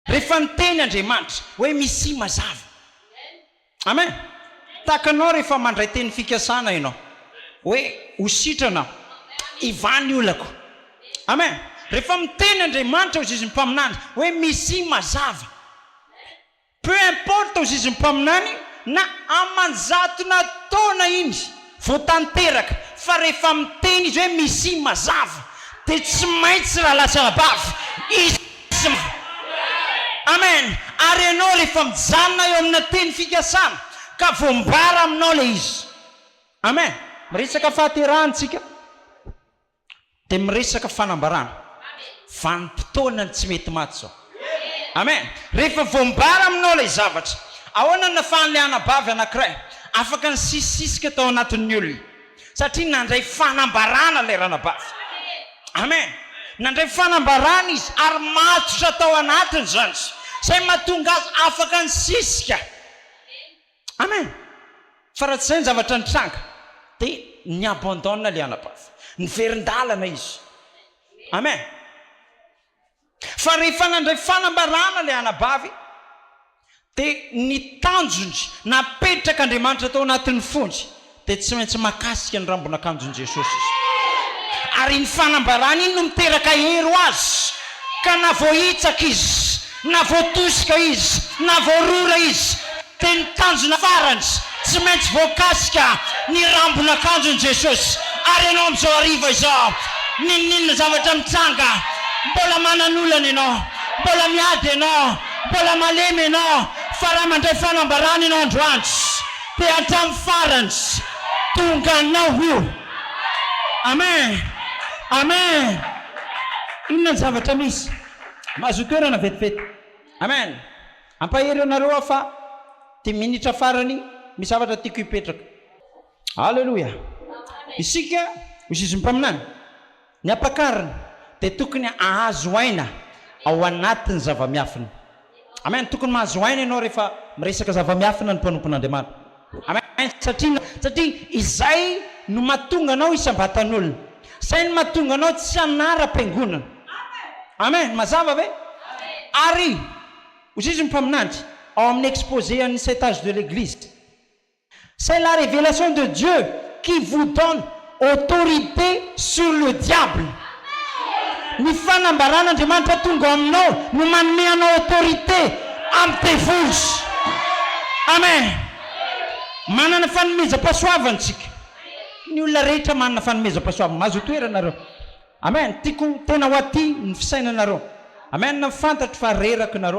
Rehefa niteny Andriamanitra hoe Misia mazava. Amen. Tahaka anao rehefa mandray teny fikasana ianao hoe ho sitrana aho, hivaha ny olako. Amen. Rehefa miteny Andriamanitra ho zizin'ny mpaminany hoe Misia mazava. Peu importe ho zizin'ny mpaminany na aman-jatona taona iny. Vao tanteraka fa rehefa miteny izy hoe Mesia mazava dia tsy maintsy rahalahy sy anabavy hisy ma. Amen. Ary ianao rehefa mijanona eo amina teny fikasana ka voambara aminao ilay izy. Amen. Miresaka fahaterahana isika. Dia miresaka fanambarana vanim-potoana ny tsy mety maty izao. Amen! Rehefa voambara aminao ilay zavatra, ahoana no nafahan'ilay anabavy anankiray afaka nisisisika tao anatin'ny olona? Satria nandray fanambarana ilay ranabavy. Amen! Nandray fanambarana izy ary matotra tao anatiny izany, izay mahatonga azy afaka nisisika. Amen! Fa raha tsy izay ny zavatra nitranga dia ni abandonne ilay anabavy. Niverin-dalana izy. Amen! Fa rehefa nandray fanambarana ilay anabavy dia ny tanjony napetrak'Andriamanitra tao anatin'ny fony dia tsy maintsy mahakasika ny rambon'akanjon'i Jesosy izy. Ary iny fanambarana iny no miteraka hery ho azy, ka na voahitsaka izy, na voatosika izy, na voarora izy, dia ny tanjona farany, tsy maintsy voakasika ny rambon'akanjon'i Jesosy. Ary ianao amin'izao hariva izao, n'inon'inona zavatra mitsanga, mbola manana olana ianao, mbola miady ianao, mbola malemy ianao, fa raha mandray fanambarana ianao androany, Dia hatramin'ny farany tonga anao io. Amen! Amen! Inona ny zavatra misy? Mahazoa toerana vetivety. Amen! Ampahery anareo aho fa ity minitra farany misy zavatra tiako hipetraka. Aleloia! Isika ho zizimpaminany. Ny ampakarina dia tokony ahazo aina ao anatin'ny zava-miafina. Amen. Tokony mahazo aina ianao rehefa miresaka zava-miafina ny mpanompon'Andriamanitra. Amen. Satria, satria izay no mahatonga anao hisam-batan'olona. Izay no mahatonga anao tsy hanara-piangonana. Amen. Mazava ve? Ary, hozizy ny mpaminany, ao amin'ny exposé an'ny Saint Age de l'Eglise, C'est la révélation de Dieu qui vous donne autorité sur le diable Ny fanambaran' Andriamanitra tonga ao aminao no manome anao autorité amin'ny devoly Amen Manana fanomezam-pahasoavana isika Ny olona rehetra manana fanomezam-pahasoavana Mahazo toerana nareo Amen Tiako tena ho aty ny fisainanareo Amen Fantatro fa reraky nareo